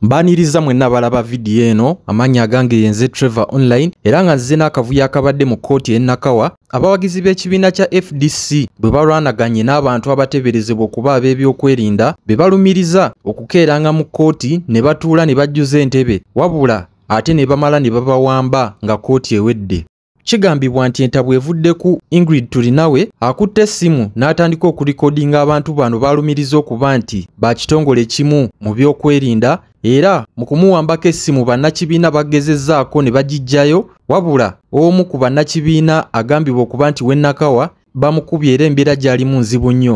mbaaniriza mwenna balaba vidiyo eno amaanyi agange yenze trevor online era nga nzize n'akavuyo akabadde mu kkooti enakawa abawagizi b'ekibiina kya fdc bwe balwanaganye n'abantu abateeberezebwa okuba ab'ebyokwerinda be balumiriza okukeeranga mu kkooti ne batuula ne bajjuza entebe wabula ate ne bamala ne babawamba nga kkooti ewedde Kigambibwa nti entabwe evudde ku Ingrid Turinawe akutte essimu n'atandika okulikodinga abantu bano baalumiriza okuba nti ba kitongole kimu mu byokwerinda era mu kumuwambako essimu bannakibiina bagezezzaako ne bagiggyayo wabula omu ku bannakibiina agambibwa okuba nti wennakawa bamukubye era embeera gyalimu nzibu nnyo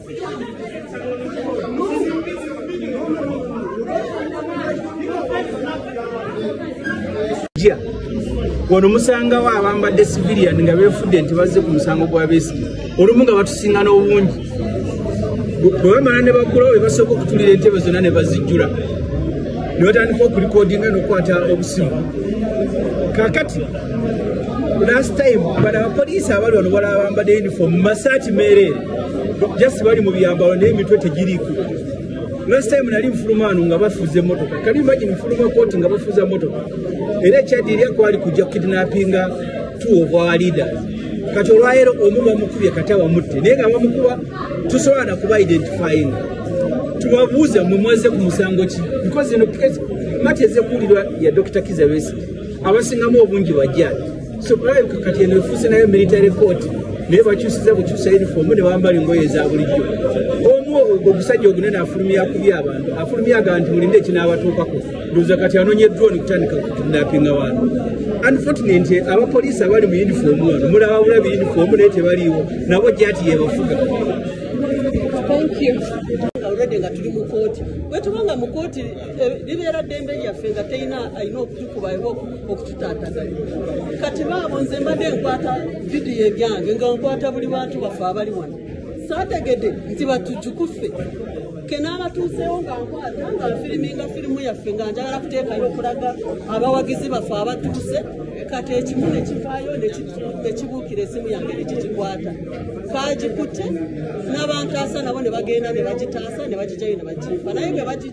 wano musangawo abambadde civilian nga befudde nti bazze ku musango gwa besige olumu nga batusinga n'obungi bwe bamala ne bagulawo bebasooka okutulira entebe zonna ne bazijjula ne batandika okulikodinga n'okukwata obusimu kakati last time bana bapoliisi abali wano balaba bambadde uniform masaati meereere just bali mu byambalo naye emitwe tegiriiko last time nali nfuluma ano nga bafuza emotoka kali imagine nfuluma koti nga bafuza emotoka era ekyadiirya kwali kujja kidnappinga two of our leaders kati olwaleero omu bamukubye kati abamutte naye nga bamukuba tusobola nakuba identifying tubabuuza mwe mwaze ku musango ki because eno mati ezekuwulirwa ya dr kizabesi abasingamu obungi bajjaaji so balabika kati eno efuuse nayo military court naye bakyusiza bukyusa uniform ne bambala engoye eza bulijjo omu ogwo ogusajja ogunene afulumya kubi abantu afulumya aga nti mulinde ekinaabatuukako ndoza kati anonye drone kutandika kukidnapinga bantu unfortunate abapoliisi abali mu uniform wano mulaba bulabi uniform naye tebaliiwo nabo jati yebafuga already nga tuli mu kooti bwetuba nga mu kooti eh, libeera ddembe lyaffe nga terina alina okutukuba okututaataganya kati baabo nze mbadde nkwata vidiyo ebyange nga nkwata buli bantu baffe abali wano saategede nti batujukuffe kenaabatuuseewo nga nkwata nga nfiriminga firimu yaffe nga njagala kuteekayo okulaga abawagizi baffe abatuuse kati ekimu nekivaayo nekibuukira esimu yange nekigikwata kaagikutte n'abantaasa nabo ne bagenda ne bagitaasa ne bagijayo ne bagimpa naye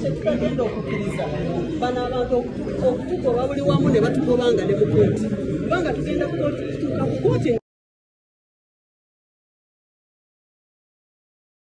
kyetutagenda okukkiriza bano abantu okutugoba buli wamu ne batugobanga ne mukooti kubanga tugenda kutuuka ku kooti